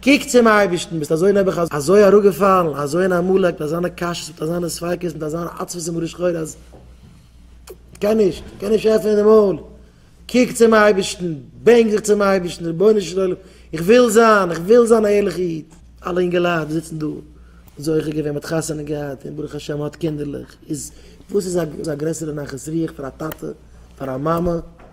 קוק צום אייבערשטן, ביסט אזוי נעבעך אזוי אראפגעפאלן, אזוי אין עמלק, מיט אזאנע קשיות, מיט אזאנע ספיקות, מיט אזאן עצבות און מרה שחורה אז כ'קען נישט, כ'קען נישט עפענען די מויל, קוק צום אייבערשטן, בענק זיך צום אייבערשטן, רבונו של עולם, איך וויל זיין, איך וויל זיין א ערליכע איד. אלע אינגעלייט וואס זיצן דא, זוכה געווען, מ'האט חתונה געהאט, און ברוך השם מ'האט קינדערלעך, איז וואס איז א גרעסערע נחת רוח פאר א טאטע, פאר א מאמע,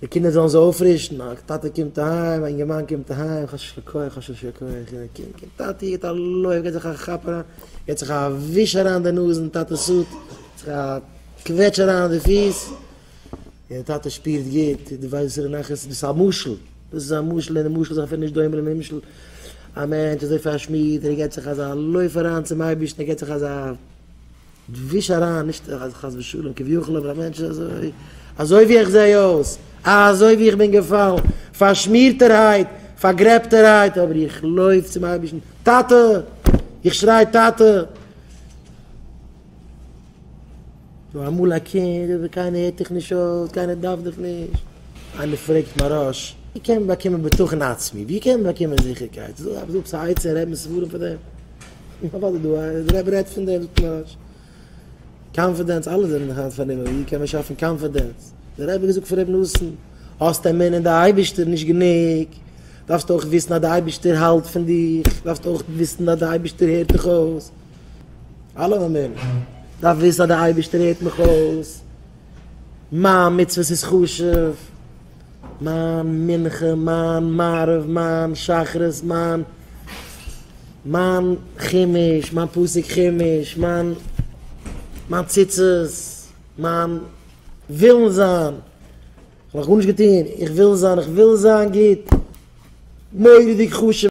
די קינדער זאלן זיך אויפרישן, א טאטע קומט אהיים, א אינגערמאן קומט אהיים, כאטש יישר כח, כאטש יישר כח, און די קינד קומט, טאטי גיט א לויף, גיט זיך א כאפ אריין, גיט זיך א וויש אריין די נאז אין טאטעס הוט, גיט זיך א קוועטש אריין די פיס, און די טאטע שפירט גוט, דו ווייסט וואסערע נחת, דאס איז א משל, דאס איז א משל, און די משל איז אפילו נישט דומה לנמשל, א מענטש אזוי פארשמידט, און ער גיט זיך אזא לויף אריין צום אייבערשטן, ער גיט זיך אזא. דו וויש אריין נישט חס ושלום כביכול אבער א מענטש איז אזוי אזוי ווי איך זעה אויס אזוי ווי איך בין געפאלן פארשמירטערהייט פארגרעבטערהייט אבער איך לויף צום אייבערשטן טאטע איך שריי טאטע נו אמאל א קינד אבער קיינער הערט דיך נישט אויס קיינער דארף דיך נישט איינער פרעגט מהראש ווי קען מען באקומען בטחון עצמי ווי קען מען באקומען זיכערקייט זאג זאג ס'הייצער רעדט מען ס'ווארום פאר דעם. און פארוואס איז דא א איז רעב רעדט פון דעם פלאש קאנפידענס אלע זענען היינט פארנומען ווי קען מען שאפן קאנפידענס דער רבי געזאגט פאר ר' נתן האסט אמונה אין די אייבישטער נישט גענוג דארפסט אויך וויסן אז די אייבישטער האלט פון דיך דארפסט אויך וויסן אז די אייבישטער הערט דיך אויס אלע אמונה דארף וויסן אז די אייבישטער הערט מיך אויס מיין מצוות איז חשוב. מיין מנחה, מיין מעריב, מיין שחרית, מיין מיין חומש, מיין פסוק חומש, מיין מיין ציצית, מיין ווילן זיין, כ'האב נאך גארנישט געטון, איך וויל זיין, איך וויל זיין גוט, מורא'דיג חשוב.